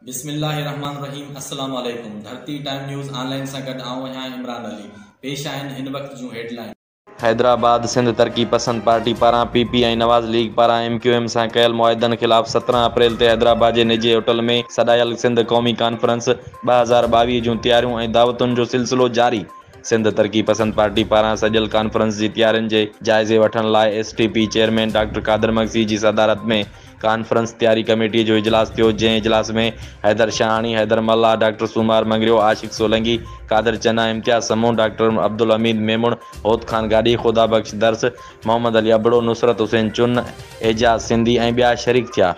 بسم الله الرحمٰن الرحيم السلام عليڪم Dharti time news online سان گڏ آئون آهيان عمران علي پيش آهن هن وقت جون هيڊلائينز. حيدرآباد، سنڌ ترقي پسند پارٽي پاران پي پي ۽ نواز ليگ پاران ايم ڪيو ايم سان ڪيل معاهدن خلاف سترهن اپريل تي حيدرآباد جي نجي هوٽل ۾ سڏايل سنڌ قومي ڪانفرنس ٻه هزار ٻاويهه جون تياريون ۽ دعوتن جو سلسلو جاري، سنڌ ترقي پسند پارٽي پاران سڏيل ڪانفرنس جي تيارين جي جائزي وٺڻ لاء S T P chairman doctor Qadir Magsi جي صدارت ۾ ڪانفرنس تياري ڪميٽي جو اجلاس ٿيو جنهن اجلاس ۾ حيدر شاهاڻي، حيدر ملاح، ڊاڪٽر سومار مڱريو، عاشق سولنگي، قادر چنا، امتياز سمون، ڊاڪٽر عبدالحميد ميمڻ، هوت خان گاڏهي، خدا بخش درس، محمد علي ابڙو، نصرت حسين چن، اعجاز سنڌي ۽ ٻيا شريڪ ٿيا.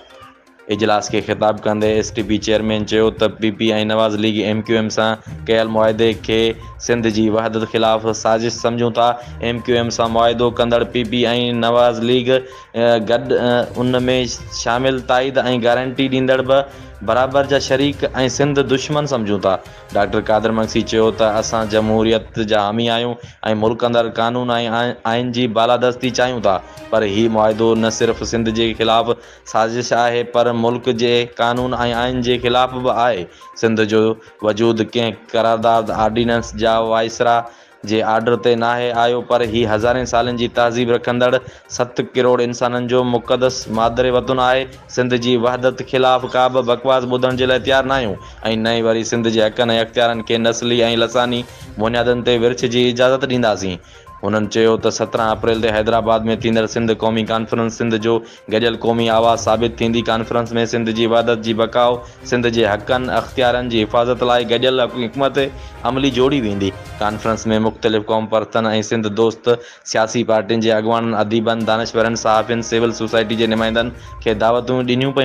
اجلاس کي خطاب ڪندي ايس ٽي پي چيئرمين چيو ته P P ۽ Nawaz league M Q M سان ڪيل معاهدي کي سنڌ جي وحدت خلاف سازش سمجهون ٿا، ايم ڪيو ايم سان معاهدو ڪندڙ پي پي ۽ نواز ليگ گڏ ان ۾ شامل تائيد ۽ گارنٽي ڏيندڙ به برابر جا شريڪ ۽ سنڌ دشمن سمجهون ٿا، ڊاڪٽر قادر مگسي چيو ته اسان جمهوريت جا حامي آهيون ۽ ملڪ اندر قانون ۽ آئين جي بالادستي چاهيون ٿا پر هي معاهدو نه صرف سنڌ جي خلاف سازش آهي پر ملڪ جي قانون ۽ آئين جي خلاف به آهي. سنڌ جو وجود ڪنهن قرارداد، آرڊيننس جا وائسراء جي آرڊر تي ناهي آيو پر هي هزارين سالن جي تهذيب رکندڙ ست ڪروڙ انسانن جو مقدس مادر وطن آهي. سنڌ جي وحدت خلاف ڪابه بڪواس ٻڌڻ جي لاء تيار ناهيون ۽ نه ئي وري سنڌ جي حقن ۽ اختيارن کي نسلي ۽ لساني بنيادن تي ورڇ جي اجازت ڏينداسين. هنن چيو ته سترهن اپريل تي حيدرآباد ۾ ٿيندڙ سنڌ قومي ڪانفرنس سنڌ جو گڏيل قومي آواز ثابت ٿيندي ڪانفرنس ۾ سنڌ جي وحدت جي بقاء، سنڌ جي حقن، اختيارن جي حفاظت لاء گڏيل حڪمت عملي جوڙي ويندي. ڪانفرنس ۾ مختلف قوم پرستن ۽ سنڌ دوست سياسي پارٽين جي اڳواڻن، اديبن، دانشورن، صحافين، سول سوسائٽي جي نمائندن کي دعوتون ڏنيون پيون.